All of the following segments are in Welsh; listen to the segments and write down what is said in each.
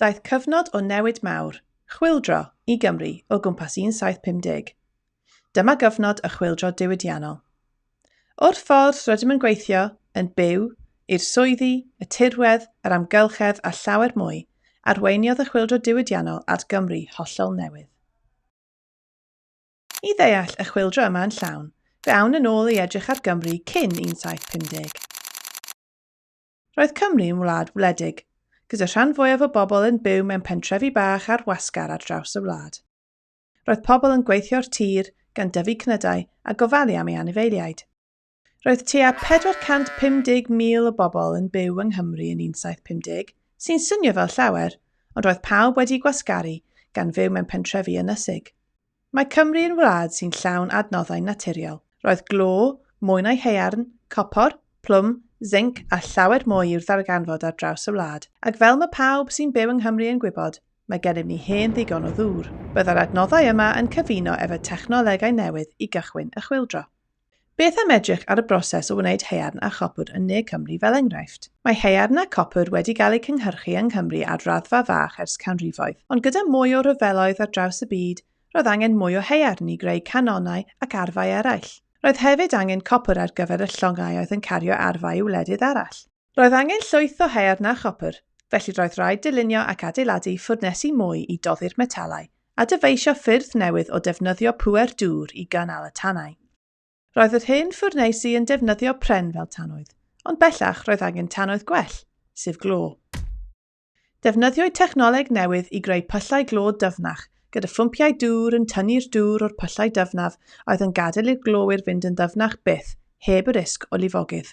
Daeth cyfnod o newid mawr, chwyldro, i Gymru o gwmpas 1750. Dyma gyfnod y chwyldro diwydiannol. O'r ffordd rydym yn gweithio, yn byw, i'r swyddi, y tirwedd, yr amgylchedd a llawer mwy, arweiniodd y chwyldro diwydiannol at Gymru hollol newydd. I ddeall y chwyldro yma yn llawn, fe awn yn ôl i edrych ar Gymru cyn 1750. Roedd Cymru yn wlad wledig, gyda rhan fwyaf o bobl yn byw mewn pentrefi bach ar wasgar ar draws y wlad. Roedd pobl yn gweithio'r tir, gan dyfu cnydau a gofalu am ei anifeiliaid. Roedd tua 450,000 o bobl yn byw yng Nghymru yn 1750, sy'n swnio fel llawer, ond roedd pawb wedi'u gwasgaru, gan fyw mewn pentrefi ynysig. Mae Cymru yn wlad sy'n llawn adnoddau naturiol. Roedd glo, mwyn a'i haearn, copor, plwm, zinc a llawer mwy i'w ddarganfod ar draws y wlad, ac fel mae pawb sy'n byw yng Nghymru yn gwybod, mae gennym ni hen ddigon o ddŵr. Byddai'r adnoddau yma yn cyfuno efo technolegau newydd i gychwyn y chwyldro. Beth am edrych ar y broses o wneud haearn a chopr yn ne Cymru fel enghraifft? Mae haearn a copr wedi gael eu cynhyrchu yng Nghymru ar raddfa fach ers canrifoedd, ond gyda mwy o ryfeloedd ar draws y byd, roedd angen mwy o haearn i greu canonau ac arfau eraill. Roedd hefyd angen copr ar gyfer y llongau oedd yn cario arfau i wledydd arall. Roedd angen llwyth o haearn na chopr, felly roedd rhaid dylunio ac adeiladu ffwrnesi mwy i doddi'r metalau a dyfeisio ffyrdd newydd o defnyddio pŵer dŵr i gynnal y tanau. Roedd yr hen ffwrneisi yn defnyddio pren fel tanwydd, ond bellach roedd angen tanwydd gwell, sef glo. Defnyddiwyd technoleg newydd i greu pyllau glo dyfnach, gyda phwmpiau dŵr yn tynnu'r dŵr o'r pyllau dyfnaf a oedd yn gadael i'r glowyr fynd yn ddyfnach byth, heb y risg o lifogydd.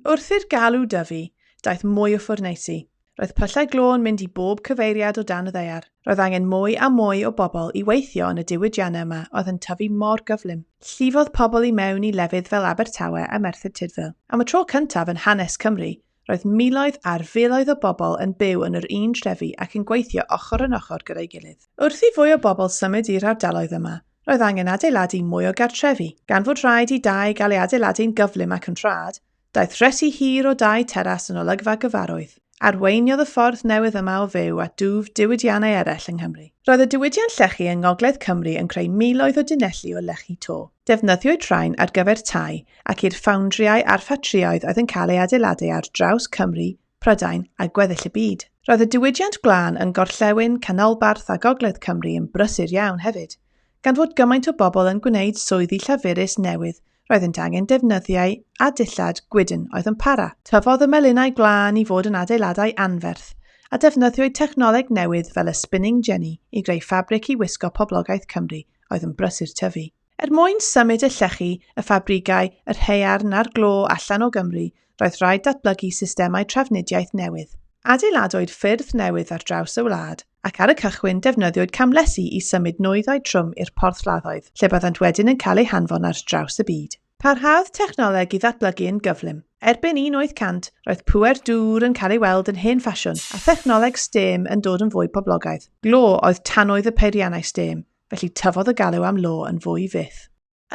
Wrth i'r galw dyfu, daeth mwy o ffwrneisi. Roedd pyllau glo yn mynd i bob cyfeiriad o dan y ddaear. Roedd angen mwy a mwy o bobl i weithio yn y diwydiannau yma oedd yn tyfu mor gyflym. Llifodd pobl i mewn i lefydd fel Abertawe a Merthyr Tudful. Am y tro cyntaf yn hanes Cymru, Roedd miloedd ar filoedd o bobl yn byw yn yr un trefi ac yn gweithio ochr yn ochr gyda'i gilydd. Wrth i fwy o bobl symud i'r ardaloedd yma, roedd angen adeiladu mwy o gartrefi. Gan fod rhaid i dai gael ei adeiladu'n gyflym ac yn rhad, daeth rhesi hir o dai teras yn olygfa gyfarwydd. Arweiniodd y ffordd newydd yma o fyw at dwf diwydiannau eraill yng Nghymru. Roedd y diwydiant llechi yng Ngogledd Cymru yn creu miloedd o dunelli o lechi to. Defnyddiwyd rhain ar gyfer tai ac i'r ffoundriau a'r ffatrïoedd oedd yn cael ei adeiladu ar draws Cymru, Prydain a gweddill y byd. Roedd y diwydiant gwlân yn gorllewin, canolbarth a gogledd Cymru yn brysur iawn hefyd. Gan fod gymaint o bobl yn gwneud swyddi llafurus newydd roeddent angen defnyddiau a dillad gwydn oedd yn para. Tyfodd y melinau gwlân i fod yn adeiladau anferth, a defnyddiwyd technoleg newydd fel y spinning jenny i greu ffabric i wisgo poblogaeth Cymru oedd yn brysur tyfu. Er mwyn symud y llechi, y ffabrigau, yr haearn a'r glo allan o Gymru, roedd rhaid datblygu systemau trafnidiaeth newydd. Adeiladwyd ffyrdd newydd ar draws y wlad, ac ar y cychwyn defnyddiwyd camlesi i symud nwyddau trwm i'r porthladdoedd, lle byddant wedyn yn cael eu hanfon ar draws y byd. Parhaodd technoleg i ddatblygu yn gyflym. Erbyn 1800, roedd pŵer dŵr yn cael ei weld yn hen ffasiwn, a thechnoleg stêm yn dod yn fwy poblogaidd. Glo oedd tanwydd y peiriannau stêm, felly tyfodd y galw am law yn fwy fyth.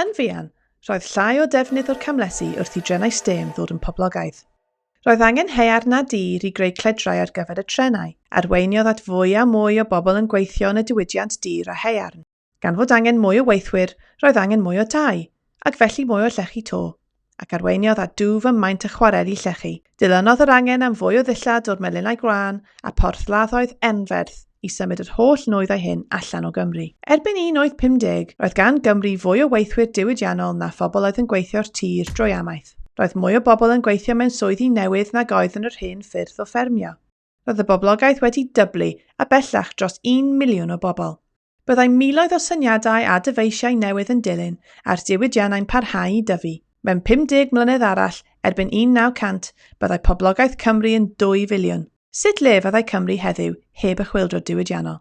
Yn fuan, roedd llai o ddefnydd o'r camlesi wrth i drenau stêm ddod yn poblogaidd. Roedd angen haearn a dir i greu cledrau ar gyfer y trenau. Arweiniodd at fwy a mwy o bobl yn gweithio yn y diwydiant dir a haearn. Gan fod angen mwy o weithwyr, roedd angen mwy o dai, ac felly mwy o llechi to. ac arweiniodd at dwf ym maint y chwareli llechi. Dilynodd yr angen am fwy o ddillad o'r melinau gwlân a porthladdoedd enferth i symud yr holl nwyddau hyn allan o Gymru. Erbyn 1850, roedd gan Gymru fwy o weithwyr diwydiannol na phobl oedd yn gweithio'r tir drwy amaeth. Roedd mwy o bobl yn gweithio mewn swyddi newydd nag oedd yn yr hen ffyrdd o ffermio. Roedd y boblogaeth wedi dyblu, a bellach dros un miliwn o bobl. Byddai miloedd o syniadau a dyfeisiau newydd yn dilyn a'r diwydiannau'n parhau i dyfu. Mewn 50 mlynedd arall, erbyn 1900, byddai poblogaeth Cymru yn 2 filiwn. Sut le fyddai Cymru heddiw heb y chwyldro diwydiannol?